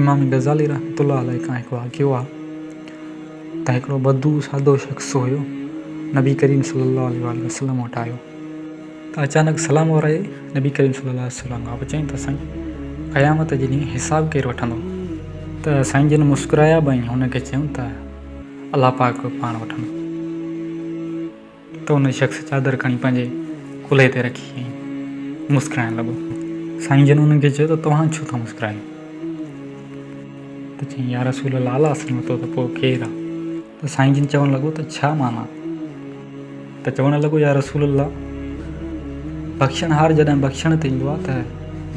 امام غزالي رحمة الله عليه کان هڪ واقعو آهي ته هڪڙو بدو سادو شخص هيو نبي ڪريم صلي الله عليه وآله وسلم وٽ آيو ته اچانڪ سلام ورائي نبي ڪريم صلي الله عليه وسلم کان پڇيائين ته سائين قيامت جي ڏينهن حساب ڪير وٺندو ته سائين جن مسڪرايا به ۽ هن کي چيم ته الله پاڪ پاڻ وٺن ته ان شخص چادر کڻي پنهنجي ڪلهي تي رکي ۽ مسڪرائڻ لڳو سائين جن انهن کي چيو ته توهان ڇو ٿا مسڪرايو ته چيائين يا رسول الله الله سلامت ته پوء ڪير آ ته سائين جن چوڻ لڳو ته ڇا معنيٰ ته چوڻ لڳو، يا رسول الله! بخشڻهار جڏهن بخشڻ تي ايندو آهي ته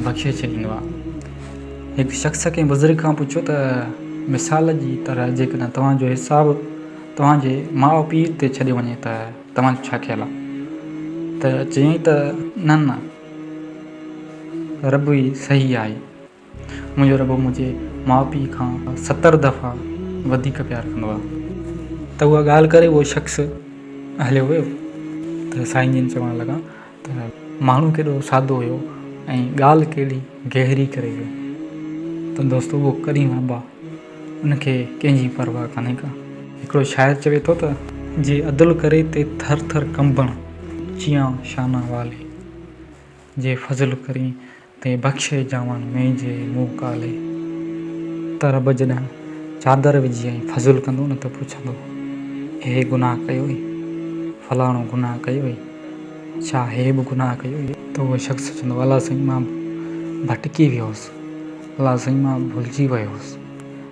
بخشي ڇڏيندو آهي. هڪ شخص ڪنهن بزرگ کان پڇيو ته مثال جي طرح جيڪڏهن توهان جو حساب توهان جي ماء پيء تي ڇڏيو وڃي ته توهان جو ڇا خيال آهي؟ ته چيائين ته نه نه ربوي صحيح آهي. منهنجو ربو منهنجي ماء پيء کان ستر دفعا وڌيڪ پيار ڪندو آهي. ته اها ڳالهه ڪري اهو شخص هليو ويو ته سائين جن چوڻ لڳا ته ماڻهو ڪيڏو سادو هيو ۽ ڳالهه ڪيڏي گهري ڪري ويو ته دوستو اهو ڪريم ابا ان کي ڪنهن جي پرواهه ڪانهي ڪا. هڪڙو شاعر چوي ٿو ته. جي عدل ڪري تي ٿر ٿر ڪنبڻ چيان شانه والي. جي فضل ڪرين تي بخشي جاون مين جي مون ڪالي. ته رب جڏهن چادر وجهي ۽ فضل ڪندو نه ته پڇندو هي گناهه ڪيوئي؟ فلاڻو گناهه ڪيوئي؟ ڇا هي به گناهه ڪيوئي؟ ته اهو شخص چوندو الله سائين مان ڀٽڪي ويو هوس، الله سائين مان ڀلجي ويو هوس.